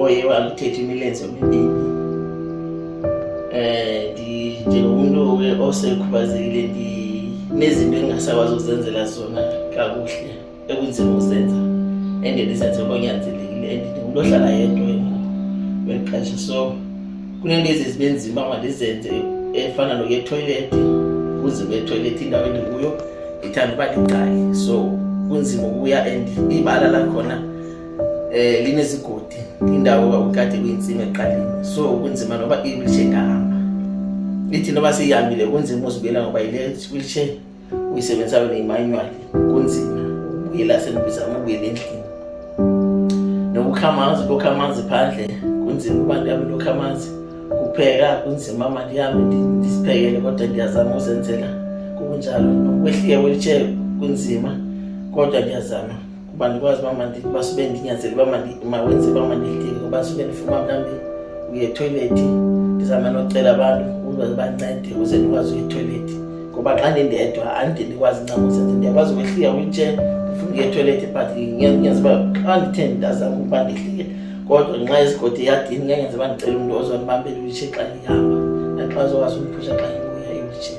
oye walithetha imilenze emibini um njengomntu osekhubazekile ndinezinto endingasakwazi ukuzenzela zona kakuhle ekunzima ukuzenza endendizenze konyanzelekile and ndingumntu ohlala yedwa ngeli xesha so kunento ezi zibe nzima mandizenze efana nokuya etoilethi kunzima etoilethi indawo endikuyo ndithanda uba ndiqali so kunzima ukuya and ibala lakhona eh linezigodi indawo kwakukade kuyintsimi eqaleni so kunzima noba iwilitshe ingahamba ithi noba siyihambile kunzima uzibuyela ngoba yile wheelchair uyisebenzisayo neyimanual kunzima ubuyela senibizama ubuyela endlini nokukha amanzi lokha amanzi phandle kunzima uba ndihambe lokha amanzi kupheka kunzima ma ndihambe ndisiphekele kodwa ndiyazama uzenzela kunjalo nokwehlika wheelchair kunzima kodwa ndiyazama uba ndikwazi uba sube ndinyanzele uba mawenze uba mandidinge uba sube ndifuma mhlawumbi uye ethoyilethi ndizama nocela abantu ukuze bancede ukuze ndikwazi uye ethoyilethi ngoba xa ndindedwa andide ndikwazi ncam uzenze ndiyakwazi ukwehlika witshe ndifuna uye ethoyilethi but ngenze uba xa ndithe ndazama ukuba ndihlike kodwa nxa yesigodi eyadini ngengenze uba ndicela umntu ozondibambela iwitshe xa ndihamba naxa uzokwazi umphusha xa ngibuya iwitshe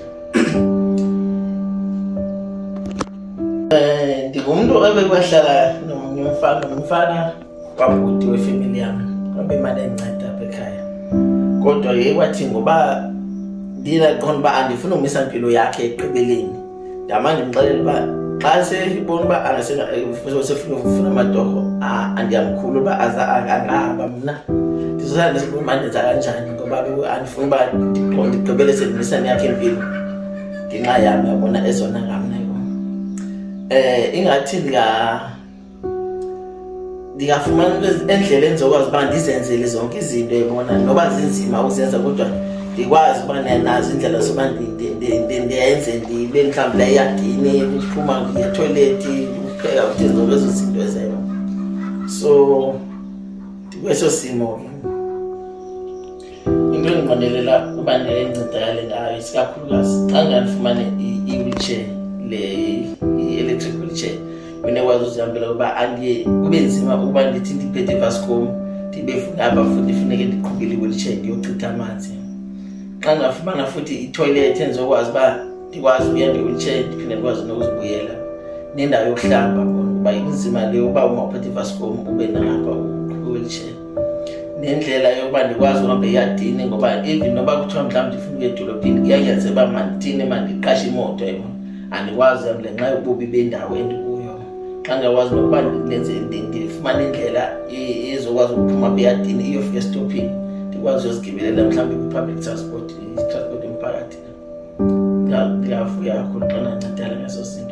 Eh, ndingumntu ebekwahlala nomnye umfana nomfana wabhuti wefemeli yam wabemane endinceda apha ekhaya kodwa ye kwathi ngoba ndinaqonda uba andifuni umisa mpilo yakhe ekugqibeleni ndama ndimxelela uba xa seyibona uba angasefuna amatorho andiyamkhulu uba angahamba mna ndizosala ndisibumandenza kanjani ngoba andifuni uba ndigqibele sendimisani yakhe impilo ngenxa yam yabona ezona ngamneko um eh, ingathi ndingafumana endlela endizokwazi uba ndizenzele zonke izinto ebona noba zinzima uzenza kodwa ndikwazi uba nazo indlela zoba ndiyenze ndibe mhlawumbi layagini ndiphuma ngiyetoilethi ndikupheka kuthi zonke ezo zinto ezeyo so ndikweso simo ke into endingondelela uba ndilencedakale ngayo isikakhulukazi xa ndandifumane i-wheelchair le i-electric wheelchair unekwazi uzihambela uba andiye kube nzima ukuba ndithi ndiphethe ibascom ndibe funaba futhi funeke ndiqhubile i-wheelchair ndiyochitha amanzi xa ndingafumana futhi itoilet endizokwazi uba ndikwazi uya nge-wheelchair ndiphinde ndikwazi nokuzibuyela nendawo yokuhlamba uba inzima le uba uma uphethe ibascom ube nalapha uqhuba i-wheelchair nendlela yokuba ndikwazi uhamba eyadini ngoba even noba kuthiwa mhlawumbi ndifuna ukuya edolophini kuyanyaniseka uba mandithini mandiqashe imoto yona andikwazi uhamba ngenxa yobubi bendawo endikuyo xa ndiyakwazi nokuba ndenze ndifumane indlela ezokwazi ukuphuma apha eyadini iyofika estophini ndikwazi uyozigibelela mhlawumbi kwi-public transport itransport yomphakathi ndiyavuya kakhulu xa nancedala ngeso sinto